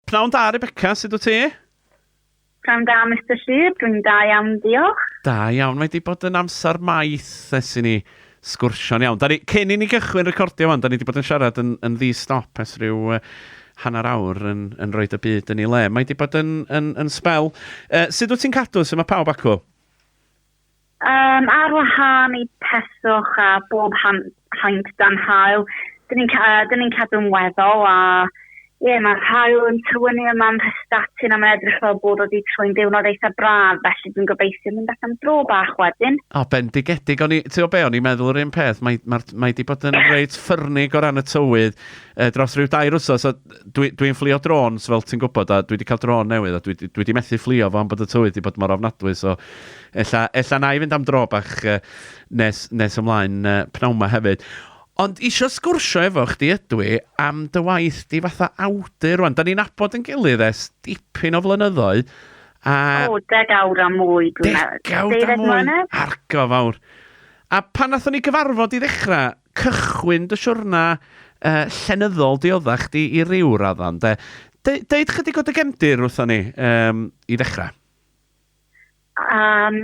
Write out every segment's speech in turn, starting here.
Pnawn da Rebecca, sut wyt ti? Pnawn da Mister Llŷr, dwi'n da iawn diolch. Da iawn, mae wedi bod yn amser maith ers i ni sgwrsio'n iawn. Da ni, cyn i ni gychwyn recordio fan, da ni wedi bod yn siarad yn, yn ddi-stop ers rhyw uh, hanner awr yn, yn rhoi y byd yn ei le. Mae wedi bod yn, yn, yn spel. Uh, sut wyt ti'n cadw, sut mae pawb acw? Yym, ar wahân i peswch a bob han- haint dan haul, dyn ni'n ca- yy, dyn ni'n cadw'n weddol a ie, mae'r haul yn tywynnu yma ym Mhrestatyn a mae'n edrych fel bod o 'di trwy'n diwrnod eitha braf, felly dwi'n gobeithio mynd allan am dro bach wedyn. O, bendigedig. O'n i, ti'n gwybod be, o'n i'n meddwl yr un peth. Mae, mae, mae di bod yn reit ffyrnig o ran y tywydd eh, dros rhyw dair wsos. A dwi, dwi'n fflio drôns, fel ti'n gwybod, a dwi wedi cael drôn newydd, a dwi, dwi wedi methu fflio fo am bod y tywydd wedi bod mor ofnadwy, so Ella, ella na i fynd am dro bach yy nes, nes ymlaen yy pnawn 'ma hefyd. Ond isio sgwrsio efo chdi ydw i am dy waith di fatha awdur rwan. Da ni'n abod yn gilydd ers dipyn o flynyddoedd. A... O, degawd a mwy dwi'n meddwl. Degawd a mwy, argo fawr. A pan nathon ni gyfarfod i ddechrau, cychwyn dy siwrna uh, llenyddol diodda chdi i ryw raddan, de. De deud chydig o dy gefndir wrthon ni um, i ddechrau. Um,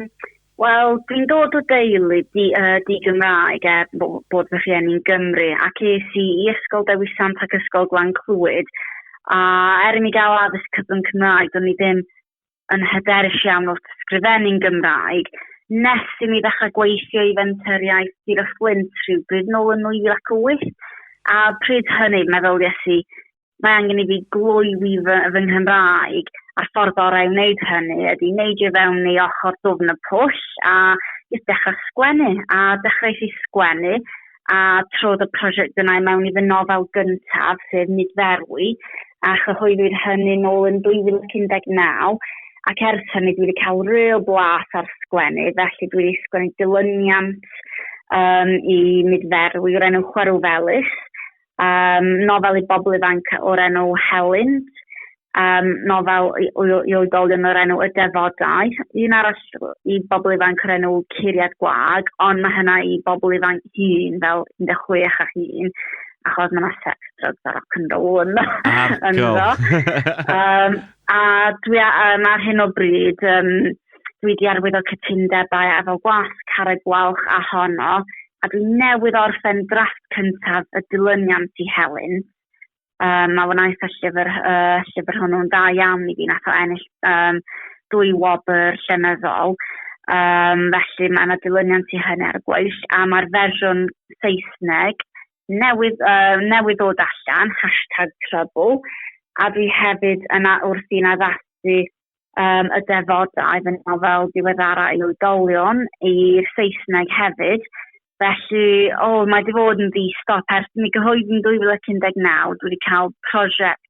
Wel, dwi'n dod o deulu di, uh, di Gymraeg er bod, bod fy rhieni'n Gymru ac es i i Ysgol Dewi Sant ac Ysgol Glan Clwyd a er i mi gael addysg cyfrwng Cymraeg do'n i ddim yn hyderus iawn wrth sgrifennu'n Gymraeg nes i mi ddechrau gweithio i fenturiaeth Sir y Fflint rhyw bryd nôl yn 2008 a pryd hynny meddylies i mae angen i fi gloywi fy, fy Nghymraeg, a'r ffordd orau i wneud hynny ydy neidio fewn i ochr dwfn y pwll a jyst dechrau sgwennu, a dechrau i sgwennu, a trodd y prosiect yna i mewn i fy nofel gyntaf, sef Nid Ferwi, a chyhoeddwyd hynny nôl yn 2019, ac ers hynny dwi wedi cael real blas ar sgwennu, felly dwi wedi sgwennu dilyniant um, i Nid Ferwi o'r enw Chwerw Felys, um, nofel i bobl ifanc o'r enw Helyn, um, nofel i, i, i oedolion o'r enw Y Defodau, un arall i bobl ifanc o'r enw Curiad Gwag, ond mae hynna i bobl ifanc hun fel 16 a hun, achos mae yna sex, drugs a rock and roll yn ynddo. um, a dwi um, ar hyn o bryd, um, dwi wedi arwyddo cytundebau efo gwas carreg gwalch a honno a dwi newydd orffen drafft cyntaf y dilyniant i Helen. Um, mae wnaeth y llyfr, uh, llyfr hwnnw'n dda iawn i fi, nath o ennill um, dwy wobr llenyddol. Um, felly mae yna dilyniant i hynny ar y gweill, a mae'r fersiwn Saesneg newydd, uh, newydd ddod allan, hashtag trouble, a dwi hefyd yna wrth i'n addasu um, y defodau fy nofel diweddara i oedolion i'r Saesneg hefyd. Felly, o, oh, mae wedi fod yn ddi-stop ers mi gyhoeddi yn 2019. Dwi wedi cael prosiect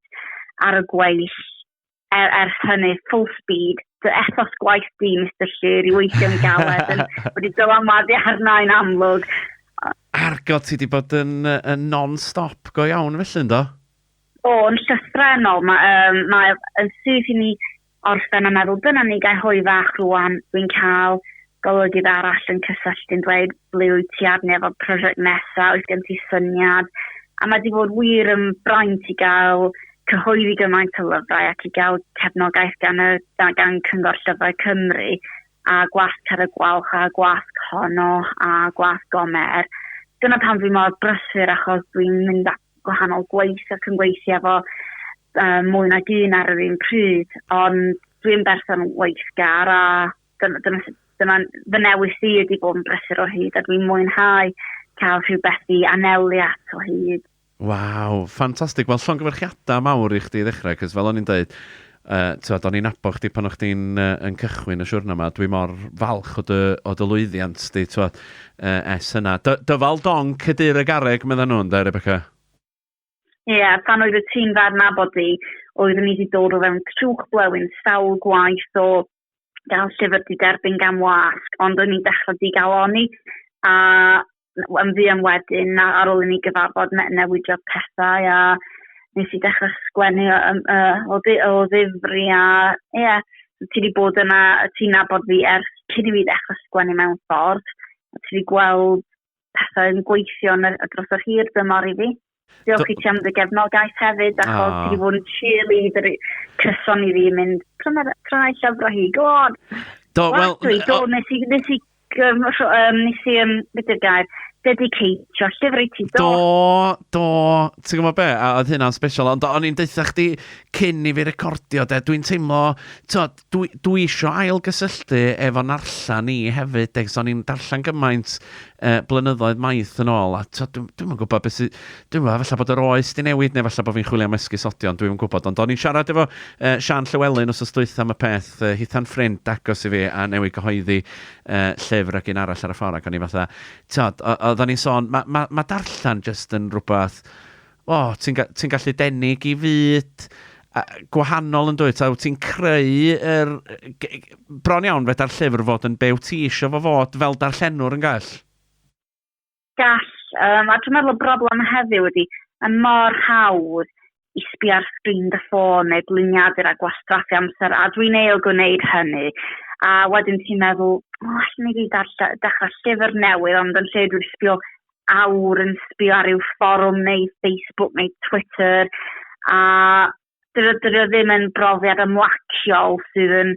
ar y gweill er, ers hynny, full speed, dy ethos gwaith di, Mr Llyr, i weithio'n galed, yn wedi dylanwadu arna i'n amlwg. Argo, ti wedi bod yn, yn non-stop go iawn felly, ynddo? O, yn llythrennol, mae, um, mae yn syth i mi orffen a meddwl, dyna ni, gael hwy fach rwan, dwi'n cael golygydd arall yn cysylltu'n dweud, ble wyt ti arni efo prosiect nesaf, oes gen ti syniad? A mae di bod wir yn braint i gael cyhoeddi gymaint o lyfrau ac i gael cefnogaeth gan, y, gan Cyngor Llyfrau Cymru a gwasg ar y gwalch a gwasg honno a gwasg gomer. Dyna pan dwi mor brysur achos dwi'n mynd gwahanol gwaith ac yn gweithio efo um, mwy nag un ar yr un pryd, ond dwi'n berson weithgar a dyna, dyna, dyna fy newis i ydy bod yn brysur o hyd a dwi'n mwynhau cael rhywbeth i anelu at o hyd. Waw, ffantastig. Wel, llongyfarchiadau mawr i chdi i ddechrau, cos fel o'n i'n dweud, Yy, t'mod, o'n i'n nabod chdi pan o' chdi'n yy yn cychwyn y siwrna 'ma, dwi mor falch o dy o dy lwyddiant di, t'mod, yy ers hynna. Dy- dyfal donc Cydure Garreg medda nhw ynde, Rebecca? Ie, pan oedd y ti'n dda adnabod fi, oeddwn i wedi dod o fewn trwch blewyn sawl gwaith o gael llyfr di derbyn gan wasg, ond o'n i'n dechrau di gael oni, a yn fuan wedyn, na, ar ôl i ni gyfarfod, ne newidiodd pethau, a nes i dechrau sgwennu o, o, o, o ddifri, a ie, yeah, ti wedi bod yna, ti'n nabod fi ers cyn i fi ddechrau sgwennu mewn ffordd, a ti wedi gweld pethau yn gweithio yn y, dros yr hir dymor i fi. Diolch i ti am dy gefnogaeth hefyd, ac oh. ti wedi bod yn cheerleader cyson i fi mynd, pryna rhai llyfrau hi, go on! Do, wel... Well, dwi, do, nes i, nes i, um, um, nes i, um, beth yw'r gair, dedicateio llyfr i ti, do? Do, do, ti'n gwybod be, a oedd hynna'n special, ond o'n i'n deutha chdi cyn i fi recordio, de, dwi'n teimlo, tod, Dwi, dwi isio ail-gysylltu efo narllen i hefyd, ac o'n i'n darllen gymaint uh, blynyddoedd maith yn ôl, a to, dwi'n dwi gwybod beth sydd, dwi'n gwybod, efallai bod yr oes di newid, neu efallai bod fi'n chwilio am esgusodion, dwi'n gwybod, ond o'n i'n siarad efo uh, Sian Llywelyn os ystwyth am y peth, uh, hithan ffrind agos i fi, a newid gyhoeddi uh, llyfr ac un arall ar y ffordd, ac o'n i fatha, tod, oedden ni'n sôn, mae ma, ma darllen jyst yn rhywbeth, O, ti'n ga- ti'n gallu denu i fyd a- gwahanol yn dwyt, a wyt ti'n creu yr... g- g- bron iawn feda'r llyfr fod yn be wyt ti eisiau fo fod fel darllenwr yn gall? Gall, um, a dwi'n meddwl y broblem heddiw ydy, mae mor hawdd i sbio ar sgrin dy ffôn neu bliniadur a gwastraffu amser, a dwi'n eil gwneud hynny. A wedyn ti'n meddwl, o, allan i fi darlle- dechrau llyfr newydd, ond yn lle dwi'n sbio awr yn sbio ar ryw fforwm neu Facebook neu Twitter a dyna dyna ddim yn brofiad ymlaciol sydd yn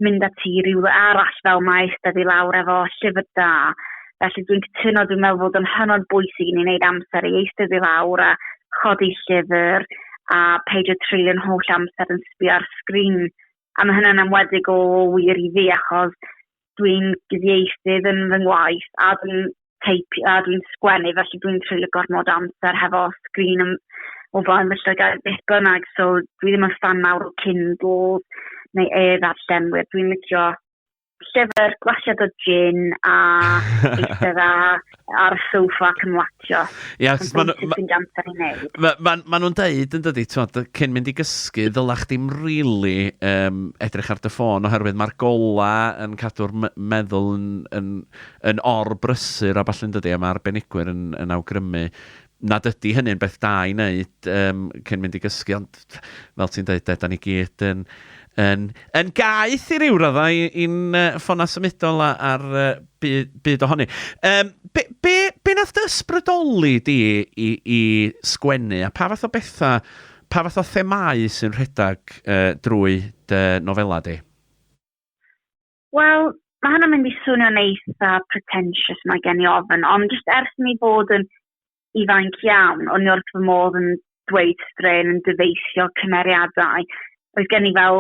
mynd â ti rhywle arall fel mae eistedd i lawr efo llyfr da. Felly dwi'n cytuno, dwi'n meddwl fod yn hynod bwysig i ni wneud amser i eistedd i lawr a chodi llyfr a peidio treulio'n holl amser yn sbio ar sgrin A mae hynna'n enwedig o wir i fi achos dwi'n gyfieithydd yn fy ngwaith a dwi'n teip a dwi'n sgwennu felly dwi'n treulio gormod amser hefo sgrin yn, o flaen fy llygaid beth bynnag so dwi ddim yn ffan mawr o Kindle neu e-ddarllenwyr dwi'n licio llyfr gwashiad o gin a eistedd a ar y sofa ac yn watcho. Ia, Yn ma' nw- bwysig ma- fynd amser i wneud. Mae ma, ma nhw'n deud yn dydy, twod, cyn mynd i gysgu, ddyla chdi'm rili um, edrych ar dy ffôn, oherwydd mae'r gola yn cadw'r me- meddwl yn, yn, yn or-brysur a ballu'n dydy, a mae arbenigwyr yn, yn awgrymu nad ydy hynny'n beth da i wneud yym cyn mynd i gysgu, ond fel ti'n dweud de, 'da ni gyd yn yn yn gaeth i ryw raddau i- i'n yy ffonau symudol a- a'r yy bu- byd ohoni. Yym, be, be, be wnaeth dy ysbrydoli di i i sgwennu a pha fath o bethau, pa fath o themâu sy'n rhedeg yy drwy dy nofelau di? Wel, mae hynna'n mynd i swnio'n eitha pretentious mae gen i ofyn, ond jyst ers mi fod yn ifanc iawn, o'n i wrth fy modd yn dweud strain yn dyfeisio cymeriadau. Oedd gen i fel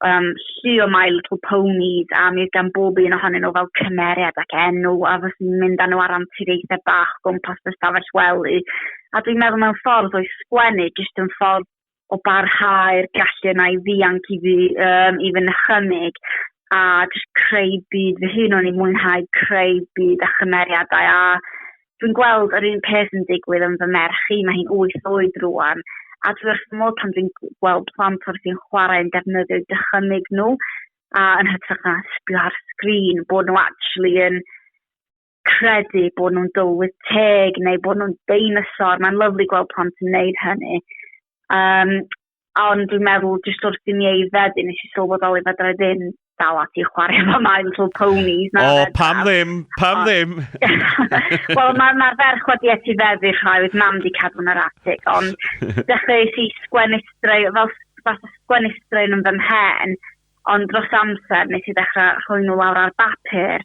um, llu o My Little Ponies a mi oedd gan bob un ohonyn nhw fel cymeriad ac enw a fos i'n mynd â nhw ar anturiaethau bach gwmpas y stafell wely. A dwi'n meddwl mewn ffordd oedd sgwennu jyst yn ffordd o barhau'r gallu yna i ddianc i fi, um, i fy nychymyg, a jyst creu byd fy hun, o'n i'n mwynhau creu byd a chymeriadau, a dwi'n gweld yr un peth yn digwydd yn fy merch i, mae hi'n wyth oed rwan, a dwi wrth modd pan dwi'n gweld plant wrth i'n chwarae yn defnyddio dychymyg nhw, a yn hytrach na sbio ar sgrin, bod nhw actually yn credu bod nhw'n dywydd teg neu bod nhw'n deinosor. Mae'n lyflu gweld plant yn neud hynny. Um, ond dwi'n meddwl, jyst wrth i mi ei feddu, nes i sylweddoli fe dra ddim dal ati i chwarae efo My Little Ponies. O, oh, pam ddim, pam o, ddim. Wel, mae'r ma ferch wedi eti feddu rhai, oedd mam di cadw yn yr atig, ond dechrau i sgwennu straen, fel fath o sgwennu straen yn fy mhen, Ond dros amser nes i ddechrau rhoi nhw lawr ar bapur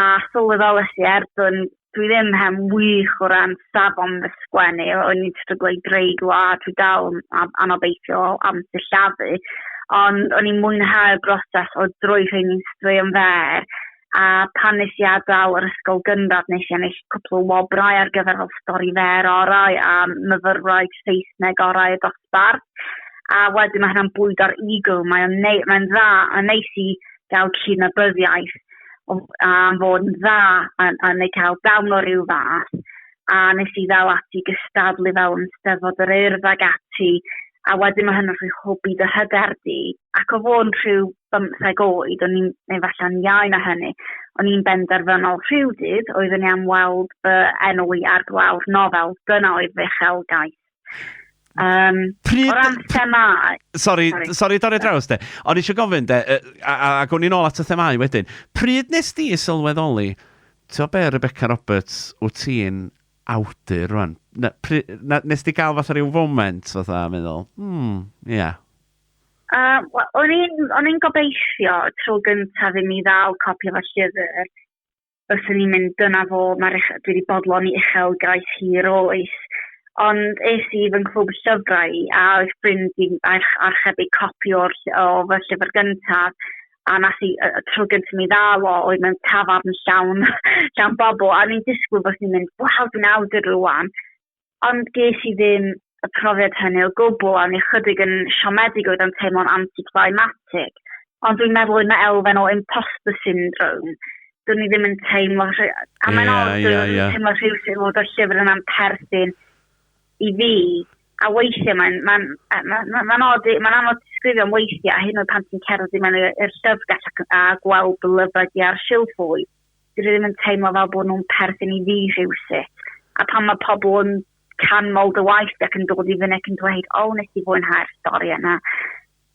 a sylweddolais i er bod dwi ddim hen wych o ran safon fy sgwennu, o'n i'n stryglo i greu gwlad, dwi dal yn anobeithiol am sillafu, ond o'n i'n mwynhau'r broses o droi rheini'n straeon fer a pan nes i adael yr ysgol gynradd nes i ennill cwpl o wobrau ar gyfer fel stori fer orau a myfyrwraig Saesneg orau y dosbarth a wedyn mae hynna'n bwydo'r ego mae'n neu, mae'n dda a neis i gael cyn-abyddiaeth am fod yn dda a, a neu cael dawn o ryw fath a nes i ddal ati gystadlu fewn steddfod yr urdd ag ati, a wedyn mae hynny'n rhoi hwb i dy hyder di. Ac o fod yn rhyw bymtheg oed, o'n i'n, neu falle'n iau na hynny, o'n i'n benderfynol rhyw dydd, oeddwn i am weld fy enw i ar glawr nofel, dyna oedd fy uchelgais. Um, pryd... O ran themau... Sori, sori dorri draws de. Ond eisiau gofyn de, a, a, a gwn i'n ôl at y themau wedyn. Pryd nes di sylweddoli, ti'n be Rebecca Roberts, wyt ti'n awdur rwan? Na, pri, na, nes di gael fath o ryw foment fatha, meddwl, hmm, ie. Yeah. Uh, well, o'n i'n gobeithio tro gyntaf i mi ddal copi o'r llyfr byswn i'n mynd dyna fo, mae'r uchel, dwi wedi bodloni uchelgais hir oes. Ond es i fy nghwb llyfrau a oedd ffrind i'n archebu copi o'r, o fy llyfr gyntaf a nath i, y, y tro gyntaf mi ddal o oedd mewn tafarn llawn, llawn bobl a ni'n disgwyl bod ni'n mynd, waw, dwi'n awdur rwan. Ond ges i ddim y profiad hynny o gwbl a o'n i ychydig yn siomedig oedd o'n teimlo'n anti-climatic. Ond dwi'n meddwl oedd yna elfen o imposter syndrome. Do'n i ddim yn teimlo... rhy- A mae'n Ie, od, ie, dwi'n ie. teimlo rhywsut fod y llyfr yna'n perthyn i fi. A weithiau mae'n mae'n yy ma' ma' mae'n od i... Mae'n anodd disgrifio am weithiau, a hyd yn oed pan ti'n cerdded i mewn i'r i'r llyfrgell ac a gweld dy lyfrau di ar silff fwy. dydyn nhw ddim yn teimlo fel bod nhw'n perthyn i fi rhywsut. A pan mae pobl yn canmol dy waith ac yn dod i fyny ac yn dweud, o, nes ti fwynhau'r stori yna,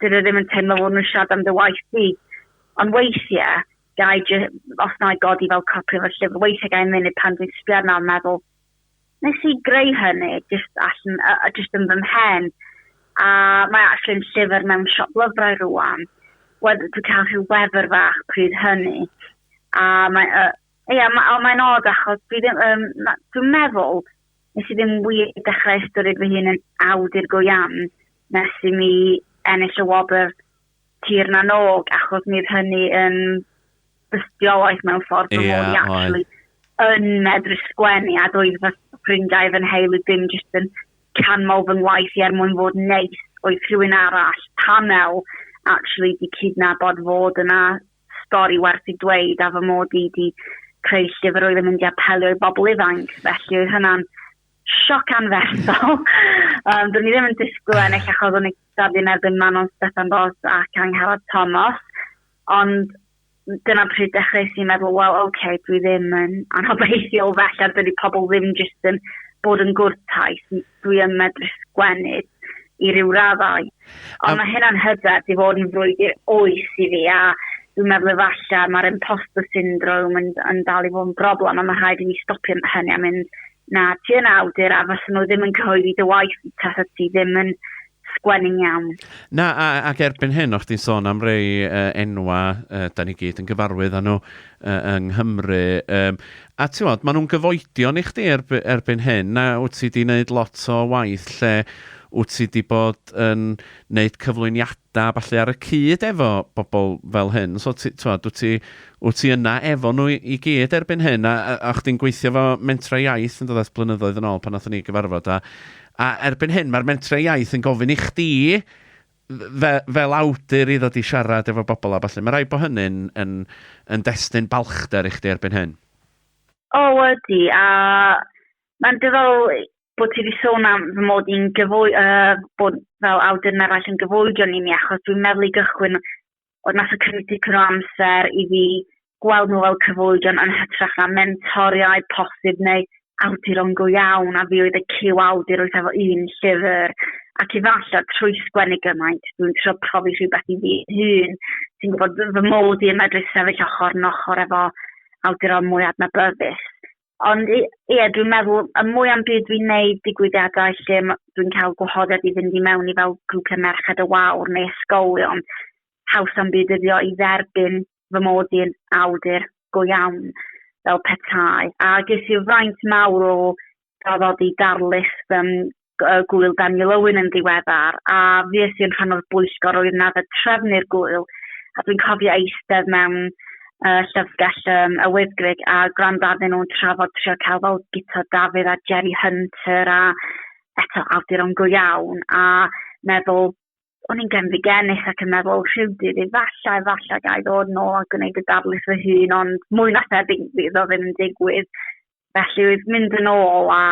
dydyn nhw ddim yn teimlo fod nhw'n siarad am dy waith di. Ond weithiau, gai, os na i godi fel copri o'r llyfr, weithiau gai mynd pan dwi'n sbio arno a meddwl, Nes i greu hynny jyst allan, uh, jyst yn fy mhen, a mae actually yn llyfr mewn siop lyfrau rwan. Wedi ti cael rhyw wefr fach pryd hynny, a mae, uh, ie, yeah, ma, mae'n odd achos dwi ddim, um, dwi'n meddwl nes i ddim wir dechrau ystyried fy hun yn awdur go iawn nes i mi ennill y wobr tir na nog, achos mi oedd hynny yn dystiolaeth mewn ffordd yeah, bod i actually yn medru sgwennu a doedd fy ffrindiau fy nheulu dim jyst yn canmol fy ngwaith i er mwyn fod neis oedd rhywun arall panel actually di cydnabod fod yna stori werth i dweud a fy mod i di creu llyfr oedd yn mynd i apelio i bobl ifanc felly oedd hynna'n sioc anferthol. um, Dwi'n ni ddim yn disgwyl yn eich achos o'n i'n cystadlu yn erbyn Manon Stefan Bos ac Angharad Thomas, ond dyna pryd dechrau sy'n meddwl, wel, oce, okay, dwi ddim yn anobeithiol felly, a dydy pobl ddim jyst yn bod yn gwrtais, dwi yn medru sgwennu. i ryw raddau. Ond mae hynna'n hyder di fod yn frwydr oes i fi a dwi'n meddwl efallai mae'r imposter syndrome yn, yn dal i fod yn broblem a mae rhaid i ni stopio hynny a mynd na ti yn awdur a fysyn nhw ddim yn cyhoeddi dy waith tasa ti ddim yn sgwennu'n iawn. Na, a, ac erbyn hyn, o'ch ti'n sôn am rei uh, enwa, uh, da ni gyd yn gyfarwydd â nhw uh, yng Nghymru. Um, A ti'mod, maen nhw'n gyfoedion i chdi erby- erbyn hyn, a wyt ti 'di wneud lot o waith lle wyt ti 'di bod yn wneud cyflwyniadau a ballu ar y cyd efo bobl fel hyn. So ti- ti'mod, wyt ti wyt ti yna efo nhw i i gyd erbyn hyn, a a a o'ch chdi'n gweithio efo Mentrau Iaith yn dod at blynyddoedd yn ôl pan wnaethon ni gyfarfod, a a erbyn hyn mae'r Mentrau Iaith yn gofyn i chdi fe- fel awdur i ddod i siarad efo bobl a ballu. Mae'n rhaid bod hynny'n yn, yn destun balchder i chdi erbyn hyn. O, ydy, a mae'n dyfal bod ti wedi sôn am fy mod i'n gyfwy, uh, bod fel awdur yn eraill yn gyfoedion i mi, achos dwi'n meddwl i gychwyn Ond nath o cymryd dipyn o amser i fi gweld nhw fel cyfoedion yn hytrach na mentoriaid posib neu awduron go iawn, a fi oedd y cyw awdur oedd efo un llyfr, ac i ddallo trwy sgwennu gymaint, dwi'n trio profi rhywbeth i fi hun, sy'n gwybod fy mod i yn medru sefyll ochr yn ochr efo awduron mwy adnabyddus. Ond ie, yeah, dwi'n meddwl, y mwy am byd dwi'n neud digwyddiadau lle dwi'n cael gwahoddiad i fynd i mewn i fel grwpiau merched y wawr neu ysgolion, haws am byd yddio i dderbyn fy mod i'n awdur go iawn fel petai. A ges i fraint mawr o draddodi darlith fy Gŵyl Daniel Owen yn ddiweddar, a fues i yn rhan o'r bwyllgor oedd na fe trefnu'r gŵyl, a dwi'n cofio eistedd mewn uh, llyfrgell um, y Wyddgrug a gwrando arnyn nhw'n trafod trio cael fel Guto Dafydd a Jerry Hunter a eto awduron go iawn, a meddwl, o'n i'n genfigennus ac yn meddwl rhywdydd efallai, efallai gael ddod nôl a gwneud y darlith fy hun, ond mwy na thebyg iddo ddim yn digwydd. Felly oedd mynd yn ôl a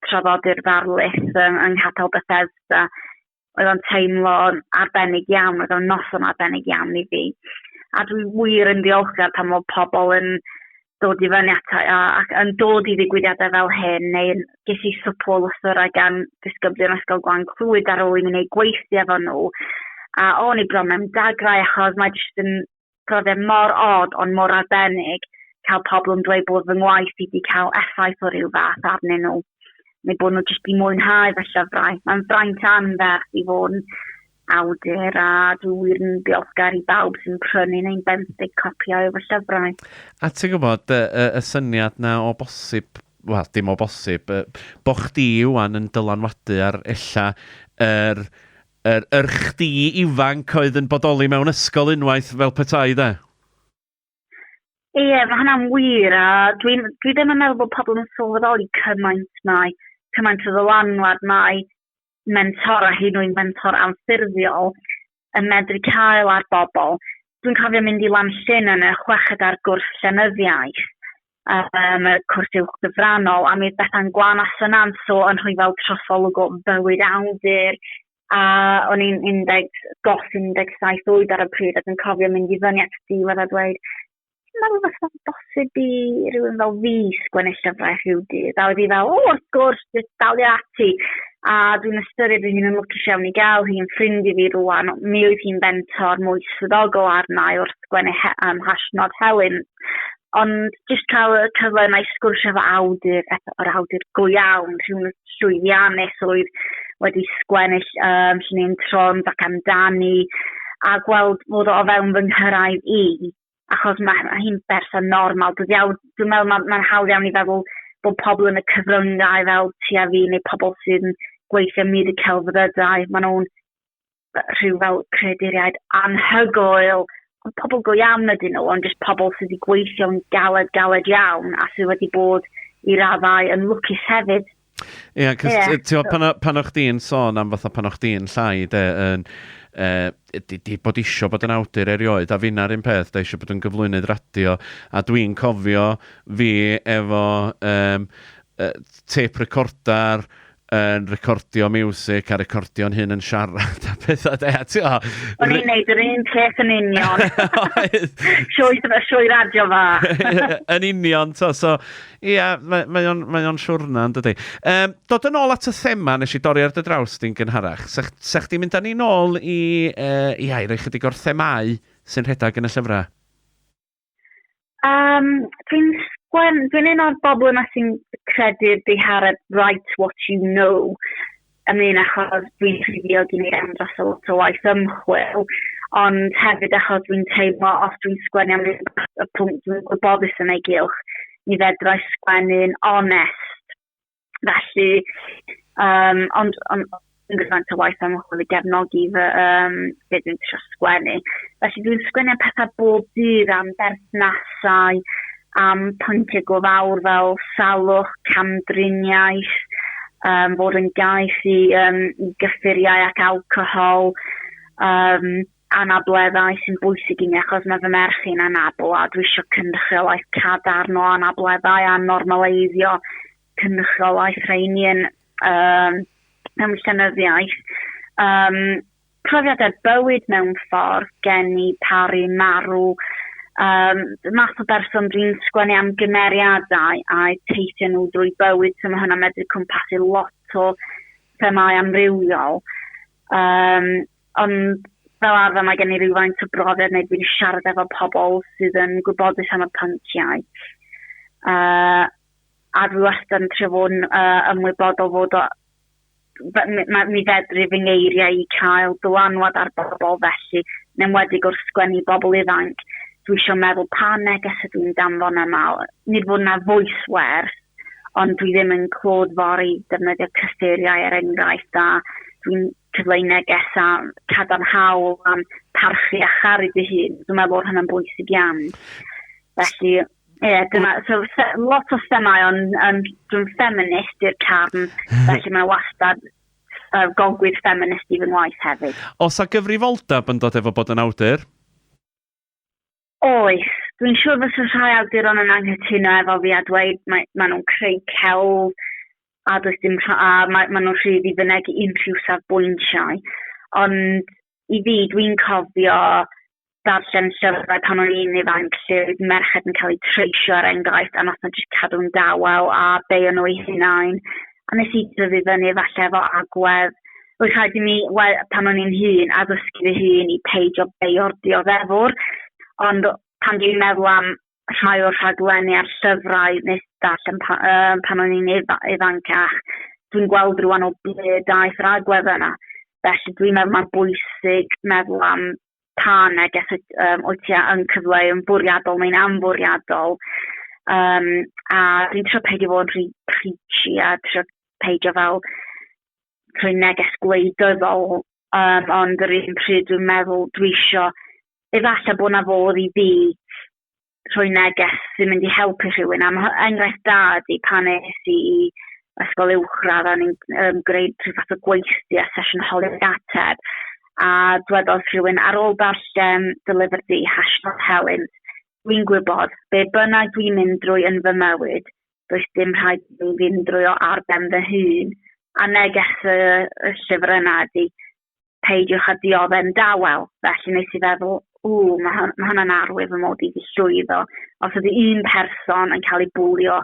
traddodi'r ddarlith um, yng Nghapel Bethesda. Oedd o'n teimlo arbennig iawn, oedd o'n noson arbennig iawn i fi. A dwi wir yn ddiolchgar pan mae pobl yn dod i fyny ato a, ac yn dod i ddigwyddiadau fel hyn, neu ges i swpl o lythyrau gan ddisgyblion Ysgol Gwan Clwyd ar ôl i mi wneud gweithio efo nhw. A o'n i bron mewn dagrau achos mae jyst yn Roedd e mor od ond mor arbennig cael pobl yn dweud bod fy ngwaith i 'di cael effaith o ryw fath arnyn nhw, neu bod nhw jyst 'di mwynhau fy llyfrau. Mae'n fraint anferth i fod yn awdur a dwi wir yn ddiolchgar i bawb sy'n prynu neu'n benthyg copïau o fy llyfrau. A ti'n gwybod, y, y, y syniad 'na o bosib, wel, dim o bosib, yy, bo' chdi ŵan yn dylanwadu ar ella yr Yr yr chdi ifanc oedd yn bodoli mewn ysgol unwaith fel petai de? Ie, mae hynna'n wir, a dwi, dwi ddim yn meddwl bod pobl yn sylweddoli cymaint mai, cymaint o ddylanwad mai mentor a hyn oed mentor anffurfiol yn medru cael ar bobl. Dwi'n cofio mynd i Lanllyn yn y chweched ar gwrs llenyddiaeth, um, y cwrs uwch gyfrannol, a mi oedd Bethan Gwan a Synan so yn rhyfel trosolwg o bywyd awdur, a o'n i'n 10, gos 17 oed ar y pryd ac yn cofio mynd i fyny at diwedd a dweud, ti'n meddwl beth o'n bosib i rhywun fel fi sgwennu llyfrau rhyw dydd? A oedd hi fel, o, wrth gwrs, jyst dalio ati. A dwi'n ystyried fy hun yn lwcus iawn i gael hi'n ffrind i fi rwan. Mi oedd hi'n bentor mwy swyddogol arna i wrth sgwennu he, um, hashnod Helen. Ond jyst cael y cyfle yna i sgwrsio efo awdur, o'r awdur go iawn, rhywun llwyddiannus oedd wedi sgwennill um, lle ni'n tron ac amdani, a gweld fod o fewn fy nghyrraedd i, achos mae ma hi'n berson normal. Dwi'n iawn, dwi'n meddwl mae'n ma hawdd iawn i feddwl bod pobl yn y cyfryngau fel ti a fi neu pobl sy'n gweithio myd y celfyddydau, maen nhw'n rhyw fel creaduriaid anhygoel, ond pobl go iawn ydyn nhw, ond jyst pobl sydd wedi gweithio'n galed, galed iawn, a sydd wedi bod i raddau yn lwcus hefyd. Ie, yeah, cos yeah. ti'n pan, pan o'ch di'n sôn am fatha pan o'ch di'n llai, de, yn, e, di, di bod isio bod yn awdur erioed, a finna'r un peth, da eisiau bod yn gyflwynydd radio, a dwi'n cofio fi efo um, uh, tape recorder, yn recordio music a recordio'n hyn yn siarad a pethau de. Ti'n O'n i'n neud yr un peth yn union. Sioi, sioi radio fa. yn union, to. So, ie, yeah, mae, mae o'n, mae on siwrna yn dydy. Um, dod yn ôl at y thema nes i dorri ar dy draws di'n gynharach. Sech, sech di mynd â ni'n ôl i, uh, ia, i roi chydig o'r themau sy'n rhedeg yn y llyfrau? Um, dwi'n sgwen, dwi'n un o'r bobl yma sy'n credu'r dihareb right what you know yn un achos dwi'n ffiddio dwi'n ei am dros o lot o waith ymchwil, ond hefyd achos dwi'n teimlo os dwi'n sgwennu am y pwnc dwi'n gwybodus yn ei gylch, ni fedrau sgwennu'n onest. Felly, um, ond, ond yn gyfant o waith am ymchwil i gefnogi fy um, beth dwi'n eisiau sgwennu. Felly dwi'n sgwennu am pethau bob dydd am berthnasau, am pwyntiau go fawr fel salwch, camdriniaeth, um, fod yn gais i, um, i gyffuriau ac alcohol, um, anableddau sy'n bwysig i mi achos mae fy merch i'n anabl a dwi eisiau cynrychiolaeth cadarn o anableddau a normaleiddio cynrychiolaeth rheini yn um, mewn llenyddiaeth. Um, profiadau bywyd mewn ffordd, geni, paru, marw, um, math o berson dwi'n sgwennu am gymeriadau a teithio nhw drwy bywyd, so mae hwnna'n medru cwmpasu lot o themau amrywiol. Um, Ond fel arfer mae gen i rywfaint o brofiad neu dwi'n siarad efo pobl sydd yn gwybodus am y pynciau. Uh, a dwi wastad yn trio fod yn uh, ymwybodol fod o mi fedru fy ngeiriau i cael dylanwad ar bobl felly, yn enwedig wrth sgwennu bobl ifanc, dwi eisiau meddwl pa neges ydw i'n danfon yma. Nid fod yna voice wers, ond dwi ddim yn clod fori defnyddio cyffuriau er enghraifft a dwi'n cyfle i neges a cadarnhaol am parchu a charu dy hun. Dwi'n meddwl bod hynny'n bwysig iawn. Felly, ie, yeah, dyna, so, lot o themau, ond um, dwi'n ffeminist i'r carn, felly mae'n wastad uh, golgwydd ffeminist i fy ngwaith hefyd. Os a gyfrifoldeb yn dod efo bod yn awdur? Oes, dwi'n siŵr fysa rhai awduron yn anghytuno efo fi a dweud mae, mae nhw'n creu celf a does dim rha- a mae, mae nhw'n rhydd i fynegi unrhyw safbwyntiau. Ond i fi, dwi'n cofio darllen llyfrau pan o'n i'n ifanc lle oedd merched yn cael eu treisio ar er enghraifft a nath nhw jyst cadw'n dawel a beio nhw eu hunain. A nes i dyfu fyny efallai efo agwedd oedd rhaid i mi, wel, pan o'n i'n hun, addysgu fy hun i peidio beio'r dioddefwr, ond pan dwi'n meddwl am rhai o'r rhaglenni a'r llyfrau nes darllen pa, uh, pan o'n i'n ifancach, dwi'n gweld rwan o ble daeth yr agwedd yna. Felly dwi'n meddwl mae'n bwysig meddwl am pa neges um, wyt ti yn cyfleu yn fwriadol neu'n anfwriadol. Um, a dwi'n trio peidio fod yn rhy preachy a trio peidio fel rhoi neges gwleidyddol, um, ond yr un pryd dwi'n meddwl dwi isio, efallai bod na fodd i fi rhoi neges sy'n mynd i helpu rhywun. Am enghraifft da ydy pan es i i ysgol uwchradd a ni'n um, greu rhyw fath o gweithdy a sesiwn holi'r ateb a dwedodd rhywun ar ôl darllen dy lyfr di, Hashnod Helen, dwi'n gwybod be bynnag dwi'n mynd drwy yn fy mywyd, does dim rhaid i mi fynd drwy o ar ben fy hun, a neges y, y llyfr yna ydy, peidiwch a diodde'n dawel. Felly nes i feddwl, ww, mae hwn, ma hwnna'n arwydd fy mod i wedi llwyddo. Os ydy un person yn cael ei bwlio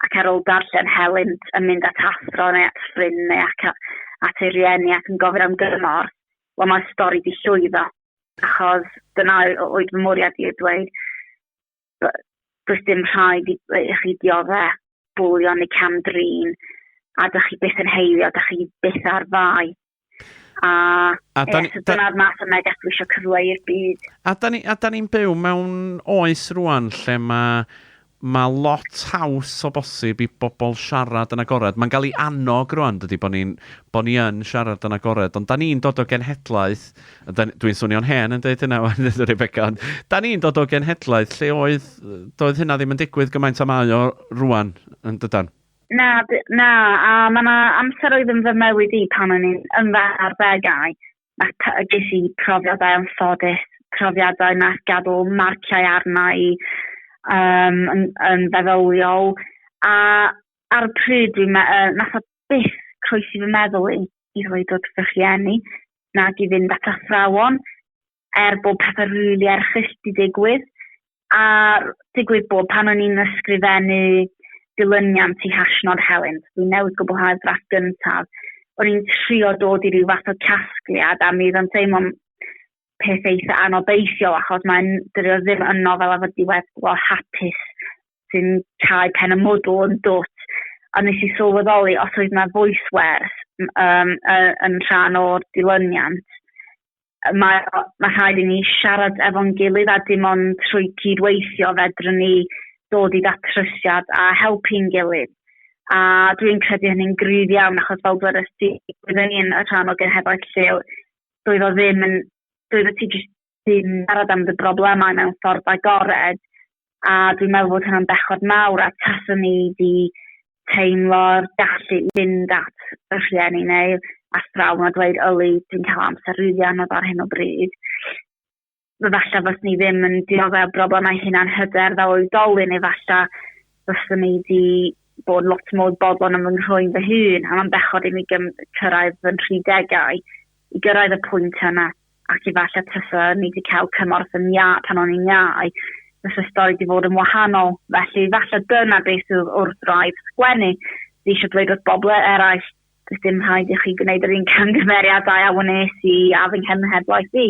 ac ar ôl darllen helynt yn mynd at athro neu at ffrind neu ac at ei rieni ac yn gofyn am gymorth, wel mae'r stori di llwyddo. Achos dyna oedd fy mwriad i o dweud, does dim rhaid i, i chi diodde bwlio neu cam-drin, a da chi byth yn heilio, da chi byth ar fai. A, a da, yes, da, dyna'r math o neges dwi eisiau cyfle i'r byd. A da ni'n ni, ni byw mewn oes rwan lle mae mae lot haws o bosib i bobl siarad yn agored. Mae'n cael ei annog rwan, dydy, bod ni'n bo ni yn siarad yn agored, ond da ni'n dod o genhedlaeth Dwi'n swnio'n hen yn dweud hynna wan, dweud Rebecca, ond da ni'n dod o genhedlaeth lle oedd, doedd hynna ddim yn digwydd gymaint am aio rwan yn dydan? Na, na, a mae yna amser oedd yn fy mywyd i pan o'n i'n yn fy arddegau, a ges i profiadau yn ffodus, profiadau na gadw marciau arna i um, yn, yn feddyliol, a ar y pryd dwi'n meddwl, uh, nath o byth croesi fy meddwl i, i ddweud dod fy rhieni, nag i fynd at athrawon, er bod pethau rili really erchill di digwydd. A digwydd bod pan o'n i'n ysgrifennu dilyniant i Hashnod Helen, dwi'n newid gwblhau'r ddrafft gyntaf, o'n i'n trio dod i ryw fath o casgliad a mi oedd yn teimlo'n peth eitha anobeithiol achos mae'n dyrio ddim yn nofel efo diweddglo hapus sy'n cau pen y mwdl yn dwt, a nes i sylweddoli os oedd yna voice wers um, yn rhan o'r dilyniant. Mae, mae rhaid i ni siarad efo'n gilydd a dim ond trwy cydweithio fedrwn ni dod i ddatrysiad a helpu'n gilydd. A dwi'n credu hynny'n gryf iawn achos fel dwedais ti, byddwn ni'n rhan o genhedlaeth lleol, doedd o ddim yn, doedd o ti jyst sy'n siarad am dy broblemau mewn ffordd agored a dwi'n meddwl bod hynna'n bechod mawr a taswn ni wedi teimlo'r gallu i fynd at y rhieni neu athrawon a dweud yli dwi'n cael amser rili anodd ar hyn o bryd. Falle fos ni ddim yn diodde o broblemau hunan hyder fel oedolyn efalla fyswn ni wedi bod lot mwy bodlon am fy nghroen fy hun a mae'n bechod i mi gyrraedd fy nhridegau i gyrraedd y pwynt yna ac efallai tasa ni 'di cael cymorth yn ia pan o'n i'n iau, fysa stori 'di fod yn wahanol. Felly efallai dyna beth sydd wrth wraidd sgwennu. Dwi eisiau dweud wrth bobl eraill, does dim rhaid i chi gwneud yr un camgymeriadau a wnes i a fy nghenhedlaeth i.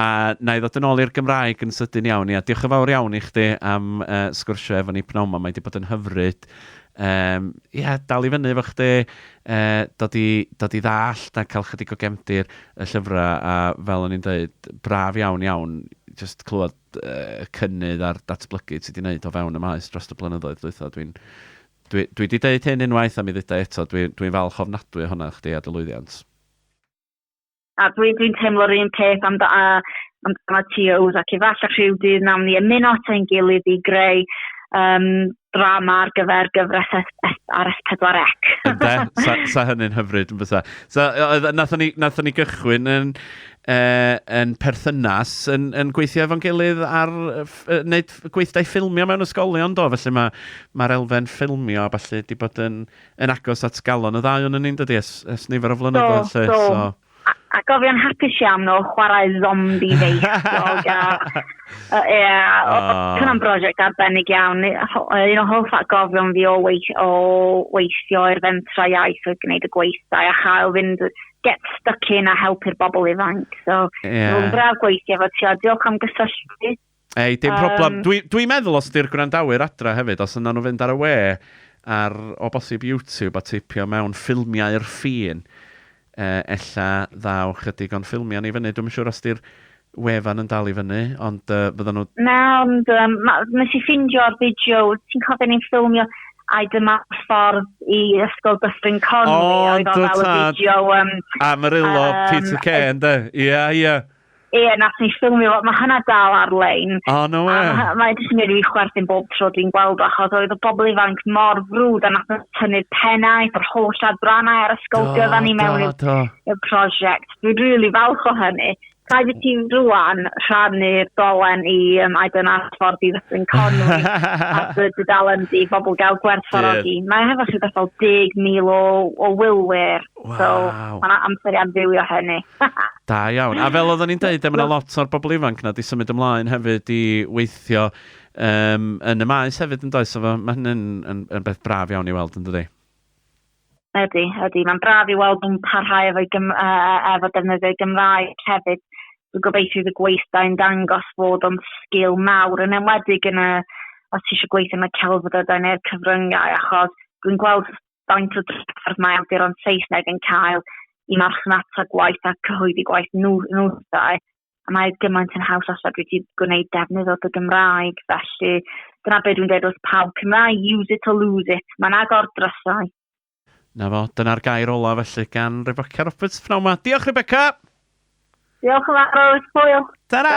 A wna i ddod yn ôl i'r Gymraeg yn sydyn iawn. Ia, diolch yn fawr iawn i chdi am yy sgwrsio efo ni pnawn 'ma, mae 'di bod yn hyfryd. Yym, ia, dal i fyny efo chdi, yy, dod i dod i ddallt a cael chydig o gefndir y llyfrau, a fel o'n i'n deud, braf iawn, iawn, jyst clywed yy y cynnydd a'r datblygu ti 'di wneud o fewn y maes dros y blynyddoedd dwytha. Dwi'n dwi dwi 'di deud hyn unwaith a mi ddeuda i eto, dwi dwi'n falch ofnadwy o honna chdi a dy lwyddiant. A dwi'n dwi teimlo'r un peth am, da, am dan y TOs ac efallai rhyw dydd nawn ni ymuno at ein gilydd i greu um, drama ar gyfer gyfres ar S4C. Ynde, sa, sa hynny'n hyfryd yn fysa. So, nathon ni, nathon ni gychwyn yn, uh, yn perthynas yn, yn gweithio efo'n gilydd ar wneud gweithdai ffilmio mewn ysgolion do, felly mae'r ma elfen ffilmio a falle wedi bod yn yn agos at galon y ddau o'n ni'n dydi es, es nifer o flynyddoedd lle. So, so. so. A, a gofian hapus iawn nhw chwarae zombi feichiog a... Uh, yeah, oh. Cyna'n brosiect arbennig iawn. Un o hoff atgofion fi o, weith, o weithio i'r fentra iaith oedd gwneud y gweithdai a chael fynd get stuck in a helpu'r bobl ifanc. So, yeah. rwy'n braf gweithio efo ti, a diolch am gysylltu. Ei, dim problem. Um, Dwi'n dwi meddwl os di'r gwrandawyr adra hefyd, os yna nhw fynd ar y we ar o bosib YouTube a teipio mewn ffilmiau'r ffin, uh, ella ddaw chydig o'n ffilmiau ni fyny. Dwi'n siŵr os di'r wefan yn dal i fyny, ond uh, fydden nhw... Na, ond um, nes i ffindio'r fideo, ti'n cofio ni'n ffilmio I dyma ffordd i ysgol Dyffryn Conwy. O, oedd o fel y fideo... Um, Amarillo, um, Peter Kay, ynddo? Ia, ia. Ie, yeah, nath ni ffilmio fo. Mae hynna dal ar-lein. O, oh, no we. Mae'n ma jyst yn gwneud i fi chwerthin bob tro dwi'n gweld o, achos oedd y bobl ifanc mor frwd a nath nhw tynnu'r pennau, yr holl adrannau ar y sgoldio dda ni mewn i'r prosiect. Dwi'n rili really falch o hynny. Rhaid i ti rwan rhannu'r dolen i um, I don't ask for di Ddyffryn Conwy a dy dudalen di bobl gael gwerthfawrogi. Yeah. Mae hefo chi bethau 10,000 o, o wylwyr Wow. So, mae yna amser i amfilio hynny. da iawn. A fel oedden ni'n dweud, mae yna lot o'r bobl ifanc na di symud ymlaen hefyd i weithio um, yn y maes hefyd yn does. So, mae hynny'n yn, yn beth braf iawn i weld yn dydi. Ydy, ydy. Mae'n braf i weld nhw'n parhau efo, gym, uh, efo defnyddio'i Gymraeg hefyd. Dwi'n gobeithio y gweithdai yn dangos fod o'n sgil mawr yn enwedig yn y, os ti eisiau gweithio yn y celfyddydau neu'r cyfryngau achos dwi'n gweld Faint o drafferth mae awduron Saesneg yn cael i marchnata gwaith a cyhoeddi gwaith nhw, nhw dau, a mae gymaint yn haws os dwi wedi gwneud defnydd o dy Gymraeg, felly dyna beth dwi'n dweud wrth pawb, Cymraeg, use it or lose it, mae'n agor drysau. Na fo, dyna'r gair ola felly gan Rebecca Roberts pnawn ma. Diolch Rebecca! Diolch yn fawr, hwyl! Ta-ra!